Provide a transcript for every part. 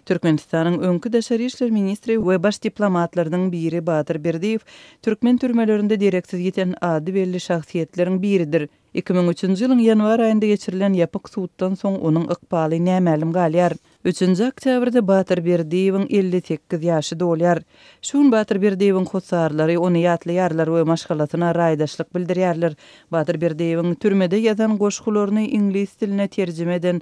Türkmenistanyň öňki daşary işler ministri we baş diplomatlarynyň biri Batyr Berdiýew türkmen türmelerinde dereksiz ýiten ady belli şahsyýetleriň biridir. Iki müň üçünji ýylyň ýanwar aýynda geçirilen ýapyk suddan soň onuň ykbaly nämälim galýar. Üçünji oktýabrda Batyr Berdiýewiň elli sekiz ýaşy dolýar. Şu gün Batyr Berdiýewiň hossarlary ony ýatlaýarlar we maşgalasyna raýdaşlyk bildirýärler. Batyr Berdiýewiň türmede ýazan goşgularyny iňlis diline terjime eden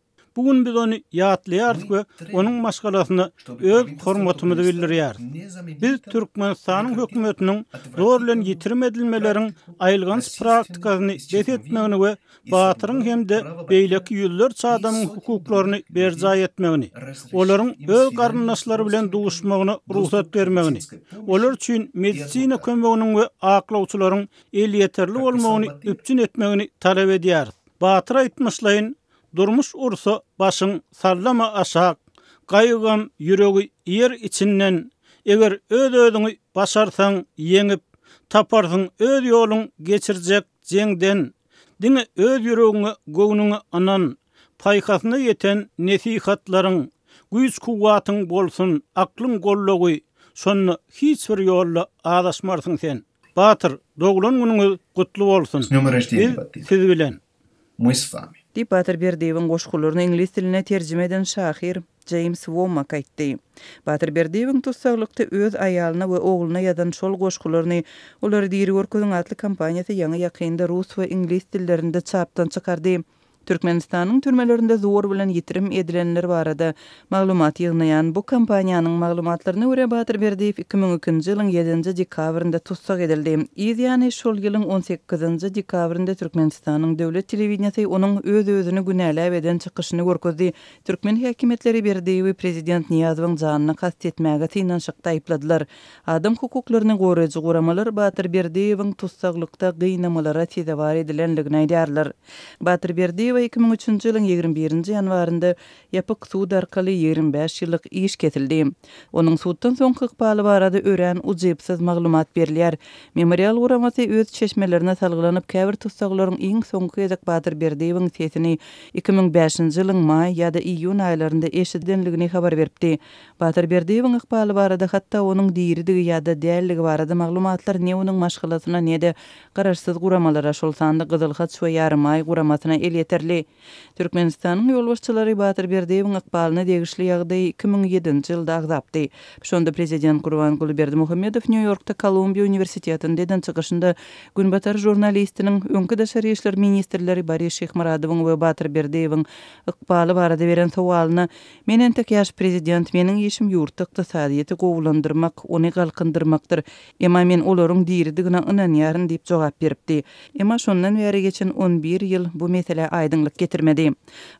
Bu gün biz ony ýatlaýarys we onuň maşgalasyna öz hormatymyzy bildirýäris. Biz Türkmenistanyň hökümetiniň zor bilen ýitirim edilmeleriň aýylganç praktikasyny bes etmegini we batyryň hem-de beýleki ýüzlerçe adamyň hukuklaryny berjaý etmegini, olaryň öz garyndaşlary bilen duşmagyna rugsat bermegini, olar üçin medisina kömeginiň we aklawçylaryň elýeterli bolmagyny üpjün etmegini talap edýäris. Batyr aýtmyşlaýyn, Durmuş ursa başyň sallama aşak, Gaýygam ýüregi iýer içinden, Eger öz-özüňi başarsaň ýeňip, Taparsyň öz ýoluň geçirjek jeňden. Diňe öz ýüregiňe, göwnüňe ynan, Paýhasyna ýeten nesihatlaryň, Güýç-kuwwatyň bolsun, aklyň goldawy, Şonda hiç bir ýolda azaşmarsyň sen. Batyr, doglan günüňiz gutly bolsun! Biz siz bilen! Мы с вами. Diýip, Batyr Berdiýewiň goşgularyny iňlis diline terjime eden şahyr Jeýms Wommak aýtdy. Batyr Berdiýewiň tussaglykda öz aýalyna we ogluna ýazan şol goşgularyny Olary diri görkeziň atly kompaniýasy ýaňy-ýakynda rus we iňlis dillerinde çapdan çykardy. Türkmenistanyň türmelerinde zor bilen ýitirim edilenler barada Maglumat ýygnaýan bu kompaniýanyň maglumatlaryna görä, Batyr Berdiýew iki müň ikinji ýylyň ýedinji dekabrynda tussag edildi. Yz ýany, şol ýylyň on sekizinji dekabrynda Türkmenistanyň döwlet telewideniýesi onuň öz-özüni günäläp eden çykyşyny görkezdi. Türkmen häkimiýetleri Berdiýewi prezident Nyýazowyň janyna kast etmäge synanyşykda aýypladylar. Adam hukuklaryny goraýjy guramalar Batyr Berdiýewiň tussaglykda gynamalara sezewar edilendigini aýdýarlar. Batyr Berdiýewe iki müň üçünji ýylyň ýigrimi birinji ýanwarynda Ýapyk sud arkaly ýigrimi bäş ýyllyk iş kesildi. Onuň suddan soňky ykbaly barada örän ujypsyz maglumat berilýär. Memorial guramasy öz çeşmelerine salgylanyp käbir tussaglaryň iň soňky gezek Batyr Berdiýewiň sesini iki müň bäşinji ýylyň maý ýa-da iýun aýlarynda eşidendigini habar beripdi. Batyr Berdiýewiň ykbaly barada hatda onuň diridigi ýa-da däldigi barada maglumatlar ne onuň maşgalasyna ne-de garaşsyz guramalara, şol sanda Gyzyl haç we Ýarymaý guramasyna elýeterli. Türkmenistanyň ýolbaşçylary Batyr Berdiýewiň ykbalyna degişli ýagdaýy iki müň ýedinji ýylda agzapdy. Şonda prezident Gurbanguly Berdimuhamedow Nýu-Ýorkda Kolumbiýa uniwersitetinde eden çykyşynda Günbatar žurnalistiniň öňki daşary işler ministrleri Boris Şyhmyradowyň we Batyr Berdiýewiň ykbaly barada beren sowalyna Men entek ýaş prezident, meniň işim ýurtda ykdysadyýeti gowulandyrmak, ony galkyndyrmakdyr. Emma men olaryň diridigine ynanýaryn diýip jogap beripdi. Emma şondan bäri geçen on bir ýyl bu meselä aýdyňlyk getirmedi.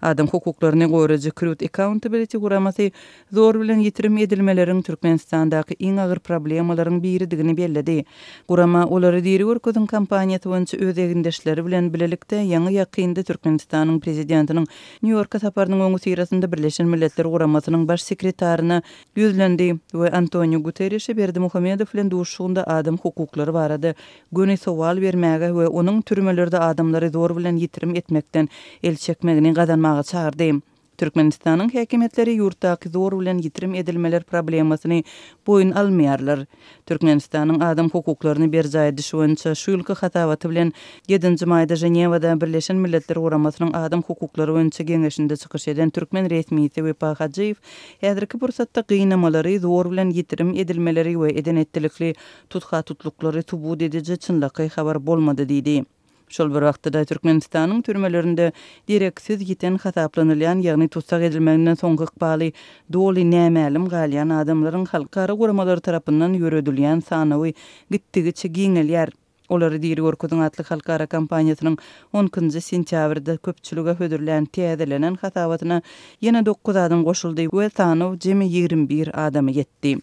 Adam hukuklaryny goraýjy Crute Accountability guramasy zor bilen ýitirim edilmeleriň Türkmenistandaky iň agyr problemalaryň biridigini belledi. Gurama olary diri görkeziň kampaniýasy boýunça öz egindeşleri bilen bilelikde ýaňy-ýakynda Türkmenistanyň prezidentiniň Nýu-Ýorka saparynyň öňüsyrasynda Birleşen Milletler Guramasynyň baş sekretaryna ýüzlendi we Antoniu Guterrişe Berdimuhamedow bilen duşuşygynda adam hukuklary barada göni sowal bermäge we onuň türmelerde adamlary zor bilen ýitirim etmekden el çekmegini gazanmaga çagyrdy. Türkmenistanyň häkimiýetleri ýurtdaky zor bilen ýitirim edilmeler problemasyny boýun almaýarlar. Türkmenistanyň adam hukuklaryny berjaý edişi boýunça şu ýylky hasabaty bilen ýedinji maýda Ženewada Birleşen Milletler Guramasynyň Adam hukuklary boýunça geňeşinde çykyş eden türkmen resmisi Wepa Hajyýew häzirki pursatda gynamalary, zor bilen ýitirim edilmeleri we eden-etdilikli tutha-tutluklary subut ediji çynlakaý habar bolmady diýdi. Şol bir wagtda-da, Türkmenistanyň türmelerinde dereksiz ýiten hasaplanylýan, ýagny tussag edilmeginden soňky ykbaly doly nämälim galýan adamlaryň halkara guramalary tarapyndan ýöredilýän sanawy gitdigiçe giňelýär. Olary diri görkeziň atly halkara kampaniýasynyň on ikinji sentýabrda köpçülige hödürlän täzelenen hasabatyna ýene dokuz adam goşuldy we sanaw jemi ýigrimi bir adama ýetdi.